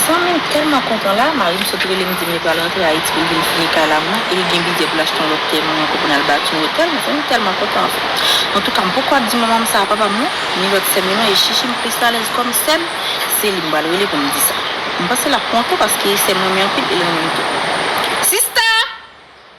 Zanmi m tèlman kontan la, mari m sot rele m di m li pral rantre Ayiti pou l vin fini kay la mwen e li gen bidjè pou l achte yon lòt tèren mwen pou n al bati yon otèl, m tèlman kontan anfen. Antouka m poko ap di manman m sa a, papa m non, ni lòt sè m yo non e Chichi m plis alèz kòm sè m, se li m pral rele pou m di sa. M panse l ap kontan paske sè m renmen anpil e l renmen m tou. Sista!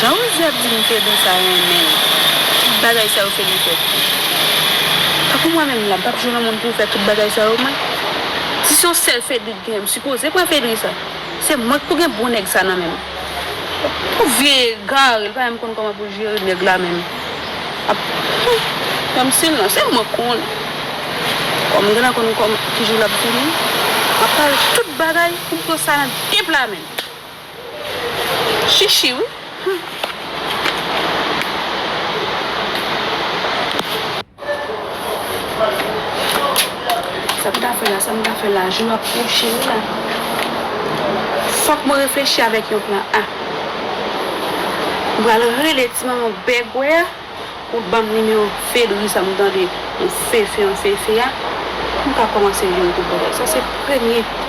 Jan Rosie ap di m Fedou sa renmen l Tout bagay sa yo Fedou fè pou l Tankou mwen menm la m pap jwe nan moun pou fè tout bagay sa yo mwen Si se yon sèl Fedou k genyen m sipoze pran Fedou sa Se mwen k pou gen bon nèg sa nan menm. Ou vye egare li pa menm konn koman poul jere neg la menm ap humm kòmsi nan se mwen konn kòm gen nan konn kòm kijou lap vini map pale tout bagay poum pran sa nan de pla menm chichi wi humm. Sa m ka fè la, sa m ka fè la, jou ap pwoche wi la. Fòk mwen reflechi avèk yon plan A. M pral rele ti manman bègwè a pou l ban m nimewo Fedri sa m tande, yon fefe yon fefe a, pou m ka kòmanse jwenn kout bò. Sa se premye.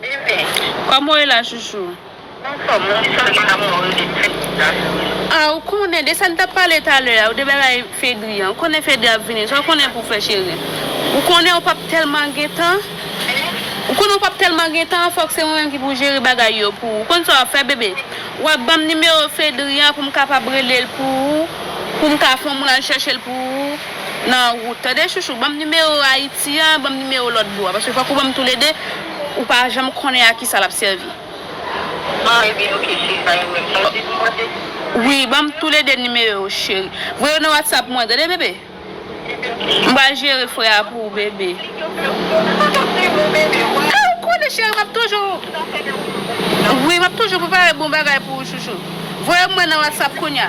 Bebe. Kòman w ye la chouchou? M anfòm, m di sèlman damou an rele m Fedri la cheri. Ah ou konnen de sa n t ap pale talè a ou de bagay Fedri an ou konnen Fedri ap vini sa w konnen pou w fè cheri ou konnen ou p ap tèlman gen tan ou konnen ou p ap tèlman gen tan fòk se mwen menm ki pou jere bagay yo pou ou ou konn sa w ap fè bebe w ap ban m nimewo Fedri an pou m kapab rele l pou ou pou m ka fè yon moun al chèche l pou ou. nan rout tande chouchou banm nimewo ayiti an banm nimewo lòt bò a paske fòk ou banm tou le 2 ou pa janm konnen a kisa lap sèvi. An ebyen ok cheri pa gen pwoblèm sa ou te vin mande m. Wi banm tou le 2 nimewo yo cheri voye yo nan whatsapp mwen tande bebe m pral jere frè a pou ou bebe. Mwen pap di non bebe wè. A ou konnen cheri map toujou wi map toujou prepare bon bagay pou ou chouchou voye mwen nan whatsapp kounya.